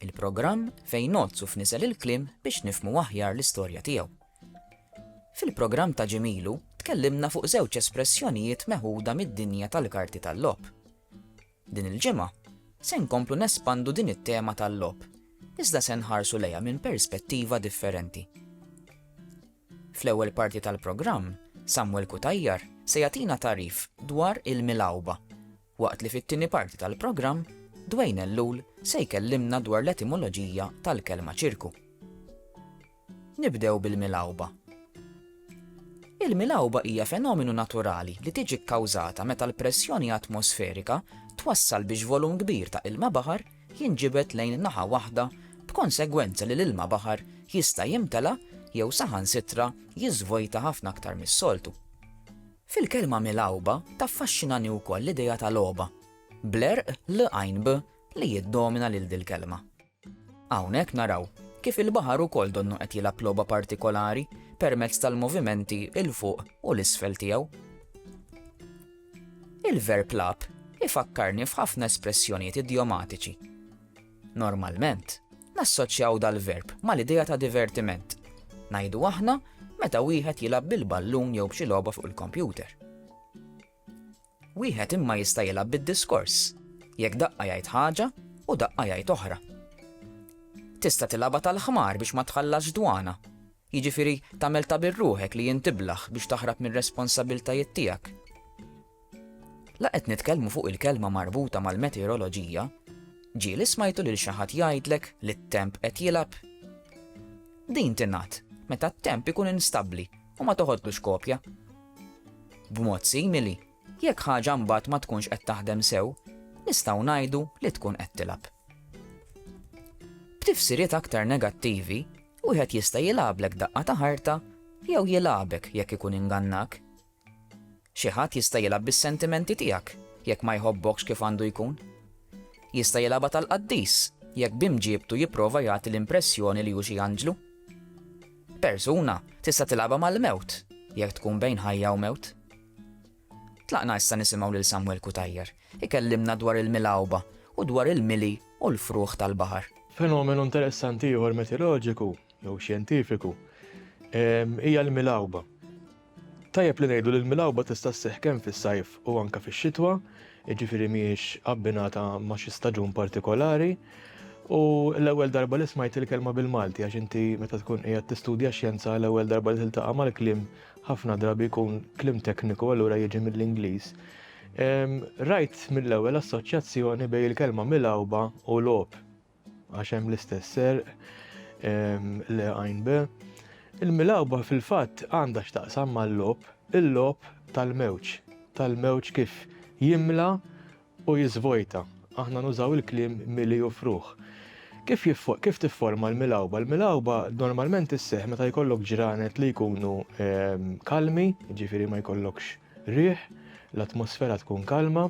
Il-programm fejn ngħoddsu f'niżel il-kliem biex nifhmu aħjar l-istorja tiegħu. Fil-programm ta' ġimgħa ilu tkellimna fuq żewġ espressjonijiet meħuda mid-dinja tal-karti tal-logħob. Din il-ġimgħa se nkomplu nespandu din it-tema tal-logħob, iżda se nħarsu lejha minn perspettiva differenti. Fl-ewwel parti tal-programm, Samuel Cutajar se jagħtina tagħrif dwar il-milgħuba waqt li fit-tieni parti tal-programm Dwayne Ellul se jkellimna dwar l-etimoloġija tal-kelma ċirku. Nibdew bil-milgħuba. Il-milgħuba hija fenomenu naturali li tiġi kkawżata meta l-pressjoni atmosferika twassal biex volum kbir ta' ilma baħar jinġibed lejn naħa waħda b'konsegwenza li l-ilma baħar jista' jimtela jew saħansitra jiżvojta ħafna aktar mis-soltu. Fil-kelma milgħuba taffaxxinani wkoll l-idea ta' logħba, bl-erq l-għajnb li jiddomina lil dil-kelma. Hawnhekk naraw kif il-baħar ukoll donnu qed jilgħab logħba partikolari permezz tal-movimenti 'l fuq u 'l isfel tiegħu. Il-verb lagħab ifakkarni f'ħafna espressjonijiet idjomatiċi. Normalment, nassoċjaw dal-verb mal-idea ta' divertiment. Ngħidu aħna meta wieħed jilgħab bil-ballun jew b'xi logħba fuq il-kompjuter. Wieħed imma jista' jilgħab bid-diskors, jekk daqqa jgħid ħaġa u daqqa jgħid oħra. Tista' tilgħabha tal-ħmar biex ma tħallas dwana, jiġifieri tagħmel ta' birruħek li jintiblaħ biex taħrab mir-responsabiltajiet tiegħek. La qed nitkellmu fuq il-kelma marbuta mal-meteoroloġija, ġieli smajtu lil xi ħadd jgħidlek li t-temp qed jilgħab? Din tingħad meta t-temp ikun instabbli u ma toħodlux kopja. B'mod simili, jekk ħaġa mbagħad ma tkunx qed taħdem sew, nistgħu ngħidu li tkun qed tilgħab. B'tifsiriet aktar negattivi, wieħed jista' jilgħablek daqqa ta' ħarta jew jilgħabek jekk ikun ingannak. Xi ħadd jista' jilgħab bis-sentimenti tiegħek jekk ma jħobbokx kif għandu jkun. Jista' jilgħabha tal-qaddis jekk b'imġiebtu jipprova jagħti l-impressjoni li hu xi anġlu. Persuna tista' tilgħabha mal-mewt jekk tkun bejn ħajja u mewt. Tlaqna issa nisimgħu lil Samwel Cutajar ikellimna dwar il-milgħuba u dwar il-mili u l-frugħ tal-baħar. Fenomenu interessanti ieħor metilorġiku jew xjentifiku hija l-milgħuba. Tajjeb li ngħidu li l-milgħuba tista' sseħħ kemm fis-sajf u anke fix-xitwa, jiġifieri mhijiex abbinata ma' xi staġun partikolari. U l-ewwel darba li smajt il-kelma bil-Malti għax inti meta tkun qiegħed tistudja xjenza l-ewwel darba li tiltaqa' mal-kliem ħafna drabi jkun kliem tekniku allura jiġi mill-Ingliż. Rajt mill-ewwel assoċjazzjoni bejn il-kelma milgħuba u logħob. Għax hemm l-istess serq le għajn be. Il-milawba fil-fatt għandha x'taqsam mal-lob, il-lob tal-mewġ, tal-mewġ kif jimla u jiżvojta. Aħna nużaw il-kliem mili u fruħ. Kif, kif tifforma l-milawba? L-milawba normalment isseħ meta jkollok ġranet li jkunu ehm, kalmi, ġifiri ma jkollokx riħ, l-atmosfera tkun kalma,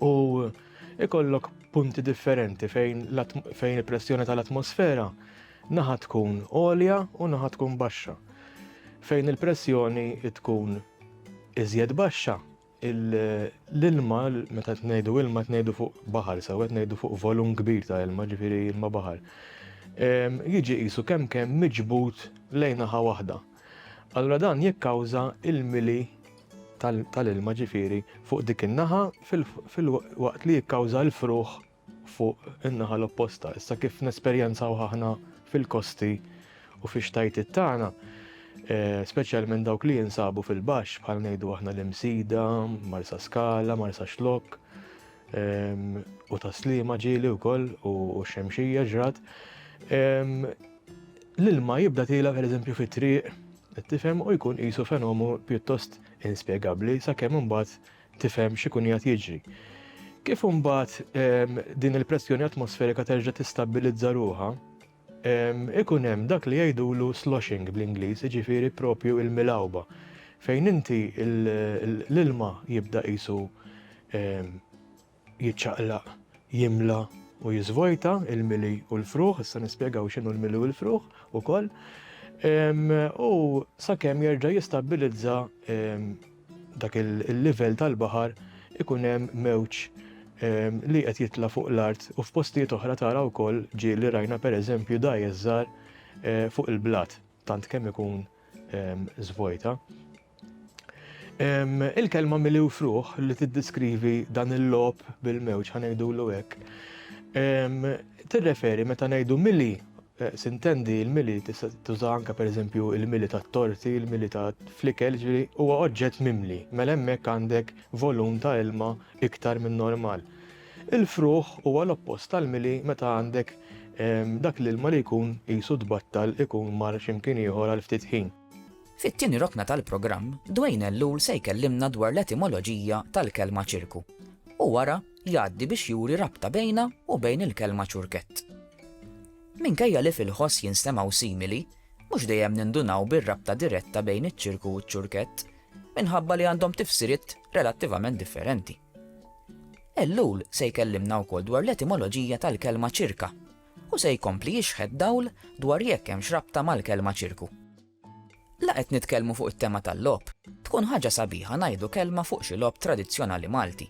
u ikollok punti differenti fejn, fejn il-pressjoni tal-atmosfera naħa tkun għolja u naħa tkun baxxa. Fejn il-pressjoni tkun iżjed baxxa, l-ilma, meta tnejdu ilma tnejdu fuq baħar, sew qed ngħidu fuq volum kbir ta' ilma, ġifieri ilma baħar. Jiġi qisu kemm kemm miġbud lejn naħa waħda. Allura dan jikkawża il-mili tal-ilma ġifieri fuq dik in-naħa fil-waqt li jikkawża l-fruħ fuq in-naħa l-opposta. Issa kif nesperjenzaw aħna fil-kosti u fix-xtajtiet tagħna, eh, speċjalment dawk li jinsabu fil-baxx bħal ngħidu aħna l-Imsida, Marsaskala, Marsaxlokk, U ta' slima ġili wkoll u xemxija ġrat. L-ilma jibda tila per eżempju fi triq, tifhem u jkun qisu fenomu pjuttost inspjegabbli sakemm imbagħad tifhem x'ikun jgħat jiġri. Kif imbagħad din il-pressjoni atmosferika terġa' tistabilizza ruha, ikun hemm dak li jgħidulu sloshing bl-Ingliż, jiġifieri proprju l-milgħuba, fejn inti l-ilma jibda qisu jiċċaqlaq, jimla u jiżvojta l-mili u l-frugħ, issa nispjegaw x'inhu l-mili u l-frugħ ukoll, u sakemm jerġa' jistabbilizza dak il-livell tal-baħar ikun hemm mewġ li qed jitla' fuq l-art u f'postijiet oħra tara wkoll ġieli rajna pereżempju dgħajjes żgħar fuq il-blat tant kemm ikun żvojta. Il-kelma miliwfruh li tiddeskrivi dan il-logħob bil-mewġ, ħa ngħidulu hekk, tirreferi meta ngħidu mili Sintendi l-mili tista' tuża anke pereżempju l-mili tat-torti, il-mili ta' fl-ikel, jiġifieri huwa oġġett mimli, mela hemmhekk għandek volum ta' ilma iktar min-normal. Il-fruħ huwa l-oppost tal-mili meta għandek dak l-ilma li jkun qisu tbattal ikun mar xi mkien ieħor għal ftit ħin. Fit-tieni rokna tal-programm, Dwayne Ellul se jkellimna dwar l-etimoloġija tal-kelma ċirku u wara, jgħaddi biex juri rabta bejnha u bejn il-kelma ċurkett. Minkejja li fil-ħoss jinstemgħu simili, mhux dejjem nindunaw bir-rabta diretta bejn iċ-ċirku u ċ-ċurkett, minħabba li għandhom tifsiriet relattivament differenti. Ellul se jkellimna wkoll dwar l-etimoloġija tal-kelma ċirka u se jkompli jixħed dawl dwar jekk hemm xrabta mal-kelma ċirku. La qed nitkellmu fuq it-tema tal-lob, tkun ħaġa sabiħa ngħidu kelma fuq xi lob tradizzjonali Malti.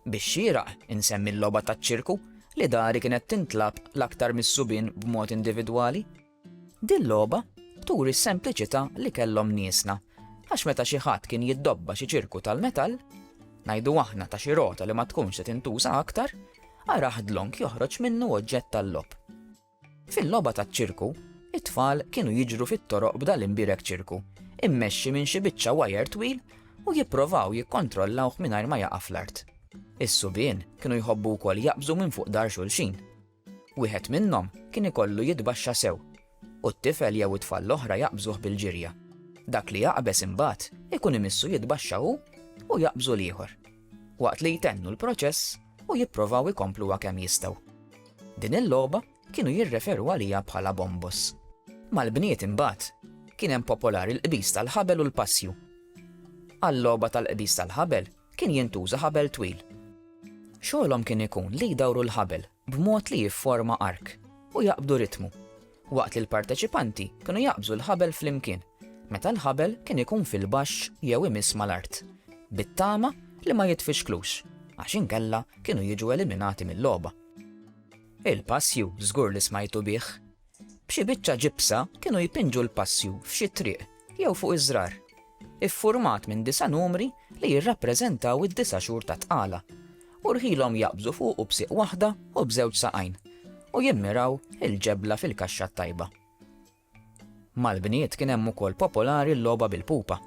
Bix-xieraq insemmi l-logħba taċ-ċirku li dari kienet tintlagħab l-aktar mis-subien b'mod individwali. Din logħba turi s-sempliċità li kellhom niesna għax meta xi ħadd kien jiddobba xi ċirku tal-metall, ngħidu aħna ta' xi rota li ma tkunx se tintuża aktar, araħ dlonk joħroġ minnu oġġett tal-logħob. Fil-logħba taċ-ċirku, it-tfal kienu jiġru fit-toroq b'dal imbierek ċirku, immexxi minn xi biċċa wajer twil u jipprovaw jikkontrollawh mingħajr ma jaqa' fl-art. Is-subien kienu jħobbu wkoll jaqbżu minn fuq dahar xulxin. Wieħed minnhom kien ikollu jitbaxxa sew, u t-tifel jew it-tfal l-oħra jaqbżuh bil-ġirja. Dak li jaqbeż imbagħad ikun imissu jitbaxxa hu u jaqbżu l-ieħor. waqt li jtennu l-proċess u jipprovaw ikompluha kemm jistgħu. Din il-logħba kienu jirreferu għaliha bħala bombos. Mal-bniet imbagħad kien hemm popolari l-qbiż tal-ħabel u l-passju. Għal-logħba tal-qbiż tal-ħabel kien jintuża ħabel twil. Xogħolhom kien ikun li jdawru l-ħabel b'mod li jifforma ark u jaqbdu ritmu, waqt li l-parteċipanti kienu jaqbżu l-ħabel flimkien meta l-ħabel kien ikun fil-baxx jew imiss mal-art, bit-tama li ma jitfixklux għax inkella kienu jiġu eliminati mil-logħba. Il-passju żgur li smajtu bih! B'xi biċċa ġibsa kienu jpinġu l-passju f'xi triq jew fuq iż-żrar, iffurmat minn disa' numri li jirrappreżentaw id-disa' xhur tat-tqala, u rħilhom jaqbżu fuqu b'siq waħda u b'żewġ saqajn, u jimmiraw il-ġebla fil-kaxxa t-tajba. Mal-bniet kien hemm ukoll popolari l-logħba bil-pupa.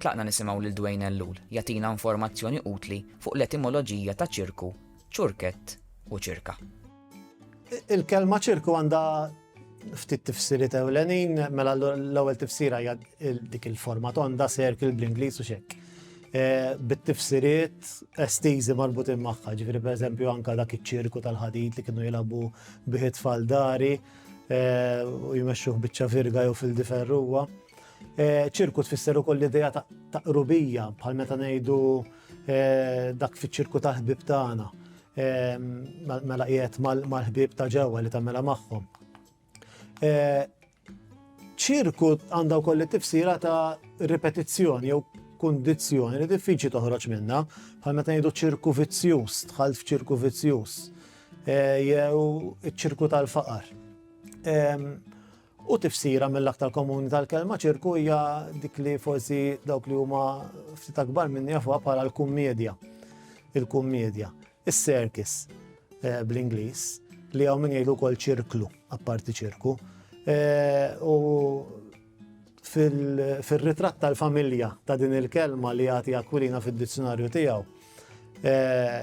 Tlaqna nisimgħu lil Dwayne Ellul jagħtina informazzjoni utli fuq l-etimoloġija ta' ċirku, ċurkett u ċirka. Il-kelma ċirku għandha ftit tifsiriet ewlenin, mela l-ewwel tifsira hija dik il-forma tonda circle bl-Ingliż u xekk. E, bit-tifsiriet estiżi marbutin magħha, ġifieri pereżempju anka dak iċ-ċirku tal-ħadid li kienu jilagħbu biħit faldari e, u jmexxuh biċċa virga jew fil-diferruwa. Ċirku tfisser ukoll l-idea ta' qrubija, bħal meta ngħidu dak fiċ-ċirku tal-ħbieb tagħna, mela qiegħed mal-ħbieb ta' ġewwa li tagħmilha magħhom. Ċirku għandha wkoll it-tifsira ta' ripetizzjoni jew kundizzjoni li diffiċli toħroġ minnha, bħal meta ngħidu ċirku vizzjuż, dħalt f'ċirku vizzjuż, jew iċ-ċirku tal-faqar. U tifsira mill-aktar komuni tal-kelma ċirku hija dik li forsi dawk li huma ftit akbar minni jafuha bħala l-kummedja. Il-kummedja. Is-circus eh, bl-Ingliż li hawn min jgħidu wkoll ċirklu, apparti ċirku. Eh, u fil-ritratt tal-familja ta' din il-kelma li jagħti Aquilina fid-dizzjonarju tiegħu eh,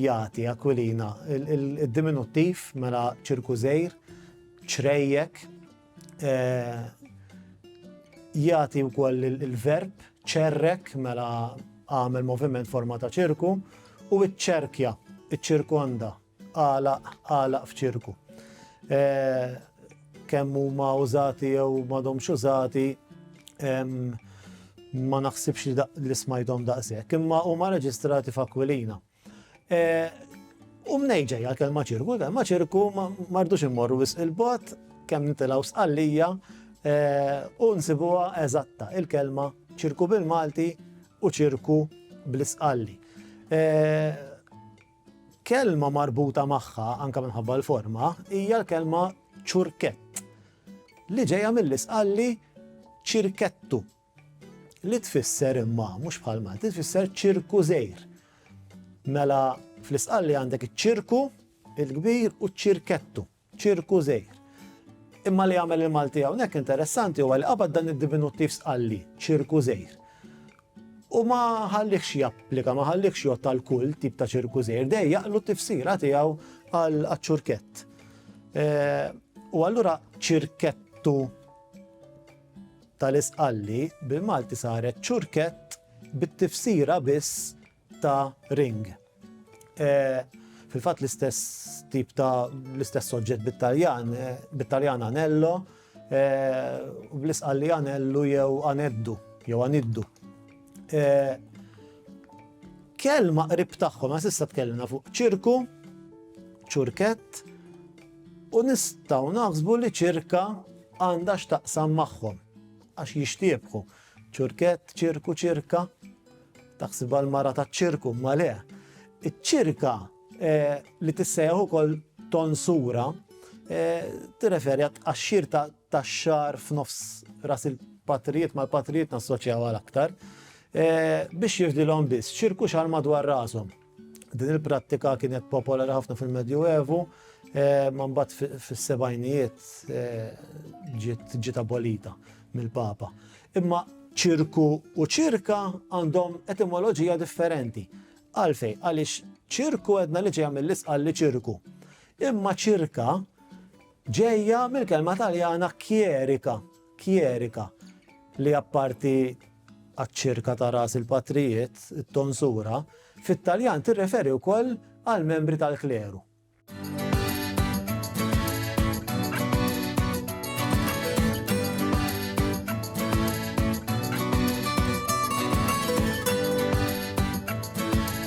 jagħti Aquilina il-diminuttiv mela ċirku żejr ċrejjek, jagħti wkoll il-verb ċerrek mela għamel moviment forma ta' ċirku u ċċerkja, iċċirkonda, għalaq, għalaq f'ċirku. Kemm huma użati jew m'għadhomx użati ma naħsibx li smajthom daqshekk, imma huma reġistrati f'Akwilina. U mnejn ġejja l-kelma ċirku, l-kelma ċirku mardux immorru wisq il-bot, kemm nitilgħu sqallija u nsibuha eżatta il-kelma ċirku bil-Malti u ċirku bl-isqalli. Kelma marbuta magħha anke minħabba l-forma hija l-kelma ċurkett li ġejja mill-isqalli ċirkettu. Li tfisser imma mhux bħal Malti, tfisser ċirku żejr. Mela fl-isqalli għandek iċ-ċirku il-kbir u ċ-ċirkettu, ċirku żejr. Imma li għamel il-Malti hawnhekk interessanti huwa li qabad dan id-diminuttiv sqalli, ċirku żejr. U ma ħallikx japplika, ma ħallikx jgħod tal kull tip ta' ċirku żejr, dej jaqlu t-tifsira tiegħu għal ċurkett. Eh, u allura ċirkettu tal-isqalli bil-Malti saret ċurkett bit-tifsira biss ta' ring. Fil-fatt l-istess tip ta' l-istess soġġett bit-Taljan, bit-Taljan anello, u bl-isqalli anellu jew aneddu jew aniddu. Kelma qrib tagħhom għax issa tkellimna fuq ċirku, ċurkett, u nistgħu naħsbu li ċirka għandha x'taqsam magħhom għax jixtiebħu. Ċurkett, ċirku, ċirka, taħsib għal mara ta' ċirku, ma le. Iċ-ċirka eh, li tissejjaħ ukoll tonsura eh, tirreferi għax-xir ta' tax-xahar f'nofs ras il-patrijiet mal-patrijiet nassoċjaw għal aktar, biex jirdilhom biss ċirku xahar madwar rashom. Din il-prattika kienet popolari ħafna fil-Medju Evu, ma mbagħad fis-sebgħinijiet ġiet abolita mill-Papa. Imma ċirku u ċirka għandhom etimoloġija differenti. Għalfejn, għaliex ċirku għedna li ġejja mill-isqal li ċirku. Imma ċirka Ġejja mill-kelma Taljana kjerika, kjerika, li apparti għaċ-ċirka ta' ras il-patrijiet, it-tonsura, fit-Taljan tirreferi wkoll għall-membri tal-kleru.